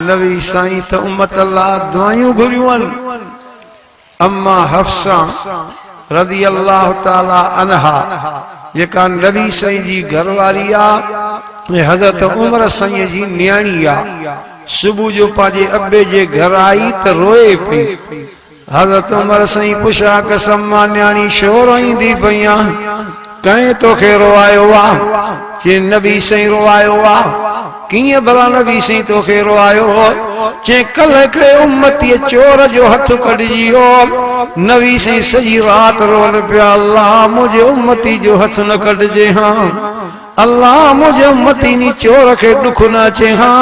نبي سائين ته امت لا دعايون گهريون هن. اما حفصه رضي الله تعالٰي عنها جيڪا نبي سائين جي گهر واري آ ۽ حضرت عمر سائين جي نياڻي آ صبح جو پنهنجي ابي جي گهر آئي ته روئي پئي. حضرت عمر سائين پڇا قسم مان نياڻي ڇو روئيندي پئيان ڪنهن توکي روئايو آ چي نبي سائين روئايو آ ڪيئن ڀلا نبي سائين توکي روئايو چي ڪلهه هڪڙي امتي چور جو هٿ ڪٽجي ويو نبي سائين سڄي رات روئن پيا الله منهنجي امتي جو هٿ نه ڪٽجي هان الله منهنجي امتين جي چور کي ڏک نه اچي ها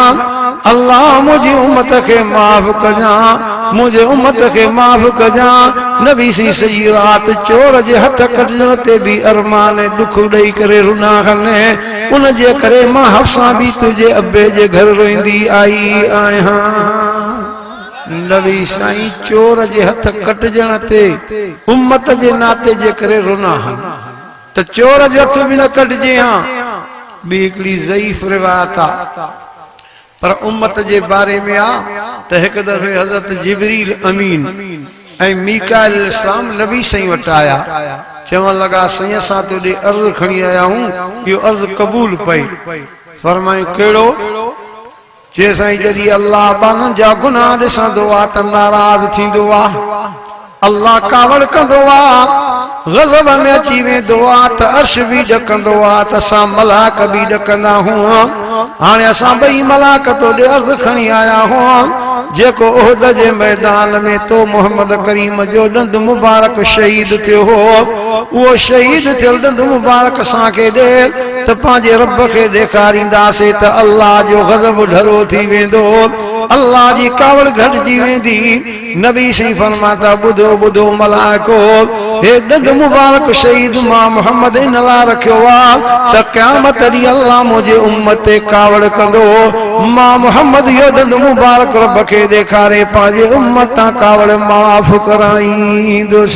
الله منهنجي امت کي معاف ڪجان منهنجي امت کي معاف ڪجان نبي سين سڄي رات چور جي هٿ ڪٽجڻ تي بي ارمان ۽ ڏک ڏئي ڪري رنا هن ان جي ڪري مان حفصه بي تنهنجي ابي جي گهر روئيندي آئي آهيان. نبي سائين چور جي هٿ ڪٽجڻ تي امت جي ناتي جي ڪري رنا هن. ته چور جي اک به نه ڪڍجي ها، ٻي هڪڙي ضعيف روايت آ پر امت جي باري ۾ آ ته هڪ دفعي حضرت جبريل امين ۽ ميڪائيل عليه السلام نبي سائين وٽ آيا چوڻ لڳا سائين اسان توڏي عرض کڻي آيا آهيون اهو عرض قبول پئي فرمائين ڪهڙو؟ چي سائين جڏهن الله ٻانهن جا گناهه ڏسندو آ ته ناراض ٿيندو آ الله ڪاوڙ ڪندو آ غضب ۾ اچي ويندو آ ته عرش به ڏڪندو آ ته اسان ملاڪ به ڏڪندا هئم هاڻي اسان ٻئي ملاڪ تو ڏي عرض کڻي آيا هئم جيڪو احد جي ميدان ۾ تو محمد ڪريم جو ڏند مبارڪ شهيد ٿيو هو اهو شهيد ٿيل ڏند مبارڪ اسان کي ڏي ته پنهنجي رب کي ڏيکارينداسين ته الله جو غضب ڍرو ٿي ويندو، الله جي ڪاوڙ گهٽجي ويندي. نبي شريف فرمان ٿا، ٻڌو ٻڌو ملائڪو! هي ڏند مبارڪ شهيد مان محمد ان لاء رکيو آ ته قيامت ڏينهن الله منهنجي امت تي ڪاوڙ ڪندو. مان محمد اهو ڏند مبارڪ رب کي ڏيکاري پنهنجي امت تان ڪاوڙ معاف ڪرائيندس.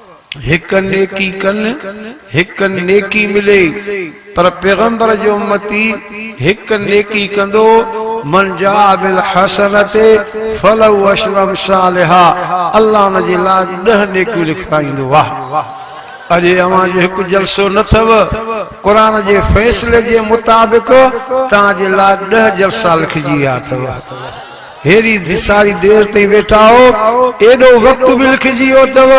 هڪ نيڪي ڪن هڪ نيڪي ملي پر پيغمبر جو امتي هڪ نيڪي ڪندو من جاء بالحسنة فله عشر امثالها الله ان جي لاء ڏهه نيڪيون لکرائيندو واه اڄ اوهان جو هڪ جلسو نه اٿو قرآن جي فيصلي جي مطابق توهان جي لاء ڏهه جلسا لکجي ويا اٿو. هيري ڌي ساري دير تائين ويٺا هئو ايڏو وقت به لکجي ويو اٿو.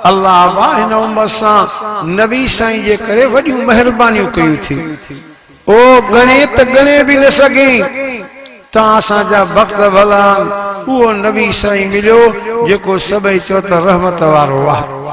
الله ابا هن امت سان نبي سائين جي ڪري وڏيون مهربانيون ڪيون ٿي او ڳڻي ته ڳڻي به نه سگهين تان اسان جا بخت ڀلا آهن اهو نبي سائين مليو جيڪو سڀئي چوطرف رحمت وارو آهي.